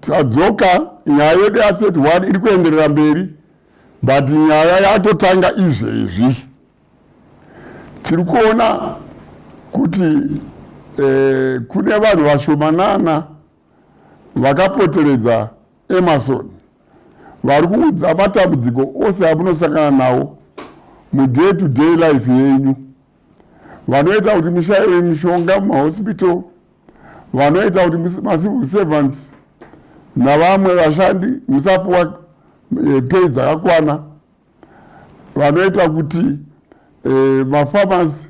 tadzoka nyaya yedu yaset one iri kuenderera mberi but nyaya yatotanga izvezvi tiri kuona kuti eh, kune vanhu vashomanana vakapoteredza emerson vari kuudza matambudziko ose amunosangana nawo muday to day life yenyu vanoita kuti mishaiwe mishonga mumahospital vanoita kuti macivil servants navamwe vashandi musapuwa eh, pei dzakakwana vanoita kuti eh, mafarmers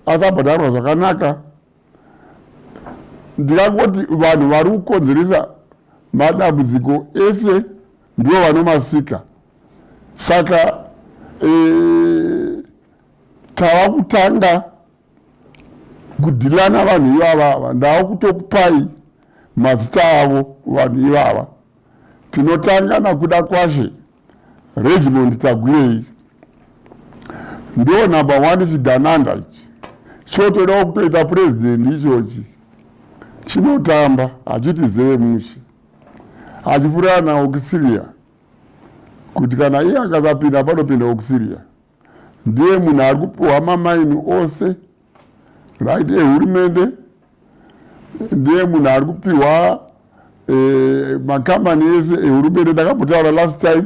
asabhadharwa zvakanaka ndikangoti vanhu vari kukonzeresa madambudziko ese ndivo vanomasika saka eh, tava kutanga kudhilana vanhu ivava ava ndava kutokupai mazita avo vanhu ivava tinotanga nakuda kwashe regimond tagwirei ndo number one chidananda ichi chotodawo kutoita purezidendi ichochi chinotamba hachiti zeve mushe achifurira naokusiria kuti kana iye akasapinda panopinda okusiria ndiye munhu ari kupiwa mamaini ose right ehurumende ndiye munhu ari kupiwa eh, makambani ese ehurumende ndakambotaura last time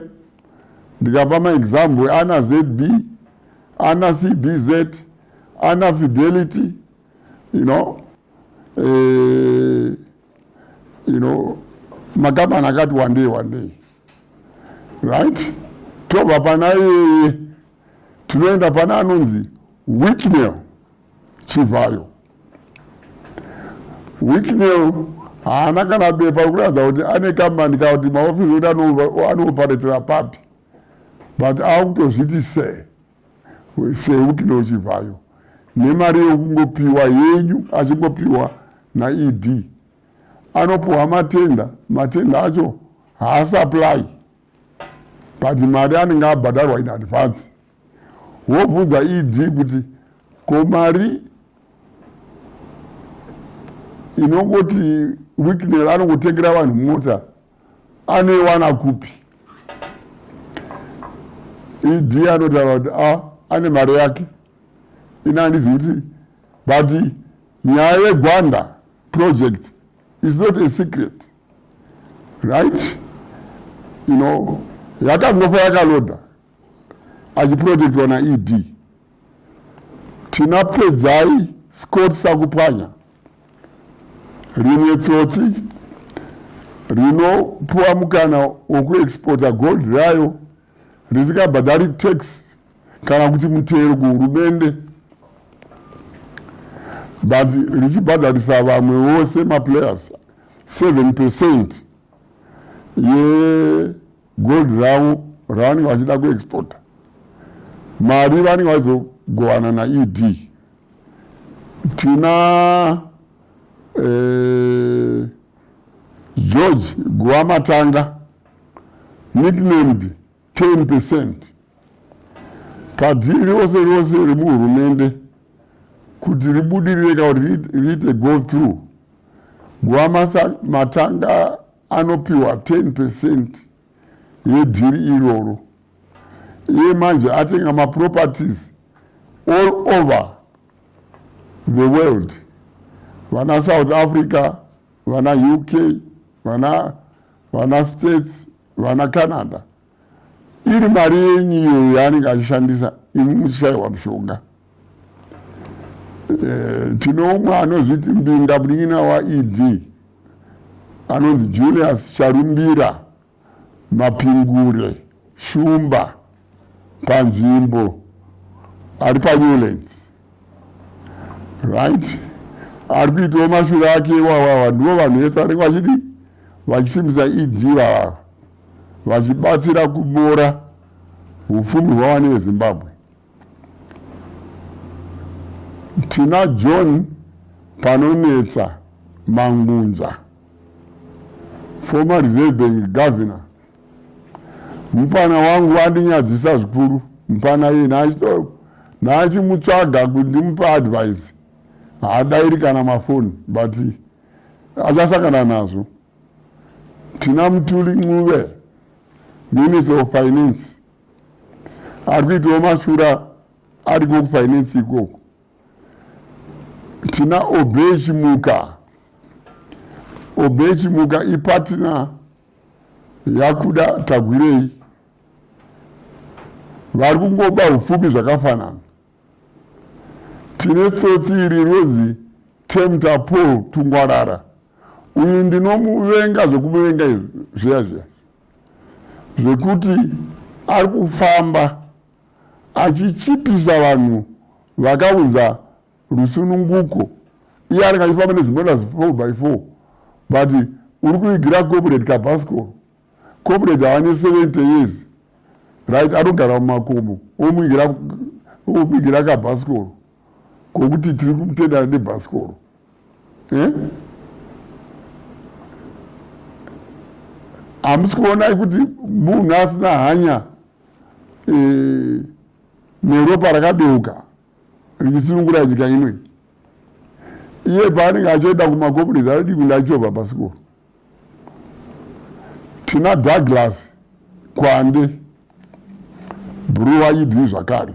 ndikapa maexample ana zb ana cbz ana fidelity you know eh, you know makambani akati wandei wandei right tobva pana iyeye tinoenda pana anonzi wicknel chivhayo wicknel haana kana bepa rekuratidza kuti ane kambani kana kuti maofisi oti anoparetera papi but akutozviti se sewicknel chivhayo nemari yekungopiwa yenyu achingopiwa naed anopuhwa matenda matenda acho haasapply but mari anenge abhadharwa in advance wobvunza ed kuti ko mari inongoti wiknel anongotengera vanhu mota anoiwana kupi ed anotaura kuti a ah, ane mari yake ini handizi kuti but nyaya yegwanda project is not a secret right you know yakangofa yakaloda achiprotectwa naed tina pedzai scott sakupwanya rimwe tsotsi rinopuwa mukana wekuexporta gold rayo risikabhadhari tax kana kuti mutero kuhurumende but richibhadharisa vamwe vose maplayers 7 percent yegold ravo ravanenge vachida kuexporta mari vanenge vaizogovana naed tina eh, george guva matanga nicknamed 10 percent kadziri rose rose remuhurumende kuti ribudirire ka riite go through gwama matanga anopiwa 10 percent yedhiri iroro iye manje atenga maproperties all over the world vana south africa vana uk vana vana states vana canada iri mari yenyu iyoyo yaanenge achishandisa imi muchishayiwa mushonga eh, tinoumwe anozviti mbinga munin'ina waed anonzi julius charumbira mapingure shumba panzvimbo ari panewlands right ari kuitawo mashura ake iwawawa ndivo vanhu vese vanenge vachidii vachisimbisa ed vavava vachibatsira kubora upfumi hwavane vezimbabwe tina john panonetsa mangunza former reserve bank governor mupfana wangu wandinyadzisa zvikuru mupfana iye naachidoko naachimutsvaga kuti ndimupe advise haadairi kana mafoni but achasangana nazvo tina mutuli ncuve minister of finance ari kuitawo mashura ariko kufinance ikoko tina obey chimuka obey chimuka ipatina yakuda tagwirei vari kungoba upfumi zvakafanana tine tsotsi iri rozi temta paul tungwarara uyu ndinomuvenga zvekumuvenga izvi zviya zviya zvekuti ari kufamba achichipisa vanhu vakaunza rusununguko iye anenge achifamba nezimotas 4 by 4 but uri kuigira corporate kabascor corporate haane 70 years right anogara mumakomo omuigira kabascor kokuti tiri kumutendana nebascor eh? hamusi kuonai kuti munhu asina hanya eh, neropa rakadeuka richisunungura nyika ino iyi iye paanenge achoenda kumakomunisi anodii kunge achovha pasikoro tina douglas kwande bruwa idii zvakare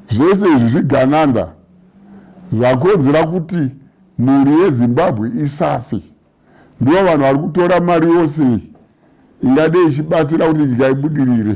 zvese izvi zvigananda zvakonzera kuti mhuri yezimbabwe isafe ndivo vanhu vari kutora mari yose ingade ichibatsira kuti nyika ibudirire